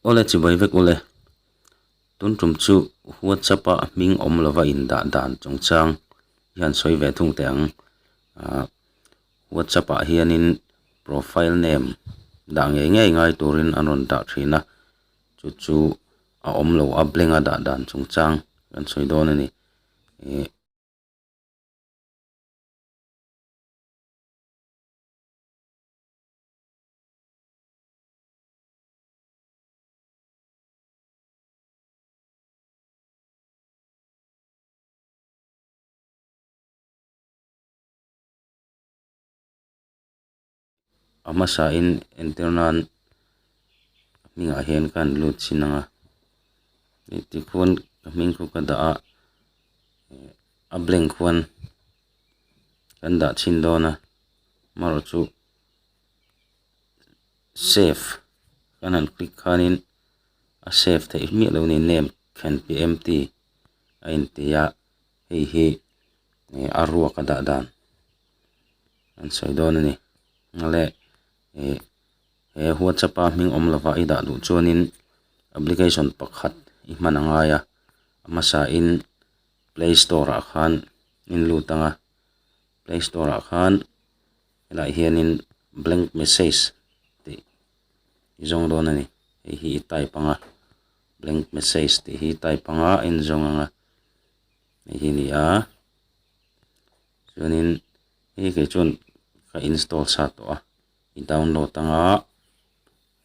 Awle chibai vek u le. Tun tum chu WhatsApp a hming awm lova indah dan chung chang hian sawi ve thung teh ang. Aah WhatsApp ah hianin profile name dah ngei ngei ngai turin an rawn dah thin a, chu chu a awm lo a blank a dah dan chung chang kan sawi dawn a ni. Ihh. a hmasa in enter nan a hming ah hian ka han lut chin ang a ih tikhuan ka hming khaw ka dah a eh a blank khuan kan dah chin dawn a amarawhchu-- save chuan han click khanin a save theih miah loh a ni name thlen tih empty a inti a hei hi ih a ruak a dah dan an sawi dawn a ni nghale ih he whatsapp a hming awm lova i dah duh chuanin application pakhat i hman a ngai a a hmasain playstore ah khan in lut ang a playstore ah khan-- Helaiah hianin blank message tih i zawng dawn a ni. Hei hi i type ang a, blank message tih hi i type ang a, a inzawng ang a. Hei hi a ni a, chuanin hei kei chuan ka install sa tawh a, i download ang a,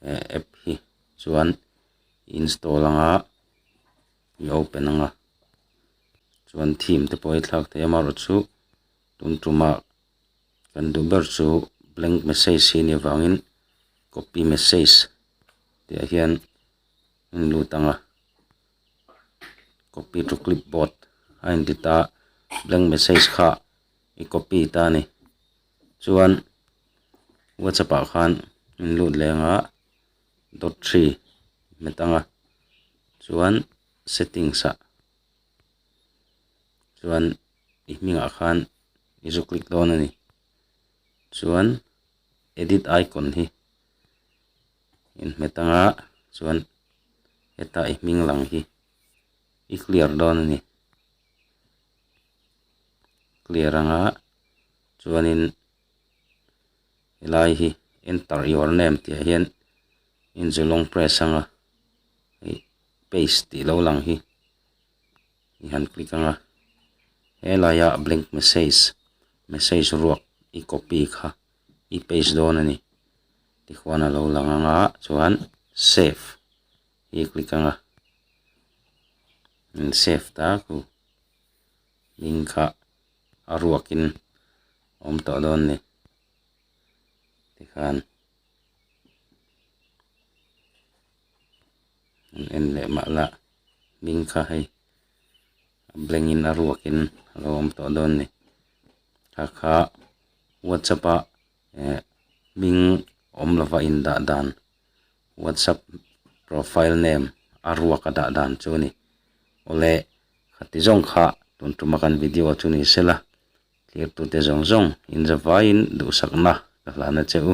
he app hi chuan i install ang a, i open ang a, chuan theme te pawh a thlak thei a, marawh chu tum tumah. kan duh ber chu blank message hi a ni avangin copy message tihah hian a in lut ang a copy to clipboard a in ti ta a blank message kha i copy ta a ni chuan whatsapp ah khan in lut leh ang a dot three met ang a chuan settings ah chuan-- i hnungah khan i zu click dawn a ni chuan edit icon hi in hmet ang a chuan heta i hming lang hi i clear dawn a ni clear ang a chuanin helai hi enter your name tih ah hian in zu long press ang a paste tih lo lang hi. i han click ang a, helaia blank message message ruak i copy kha i paste dawn a ni tihuan a lo lang ang a chuan save i click ang a, min save ta ku link kha a ruak in awm tawh dawn a ni tikhan an en leh mah la. ding kha hei a blank in a ruak in a lo awm tawh dawn ni kha kha whatsapp a eh hming awm lova in dah dan whatsapp profile name a ruak a dah dan chu a ni awle kha ti zawng kha tun tum a kan video a chu ni se la thlir tu te zawng zawng in za vai in duhsak na ka hlan a che u.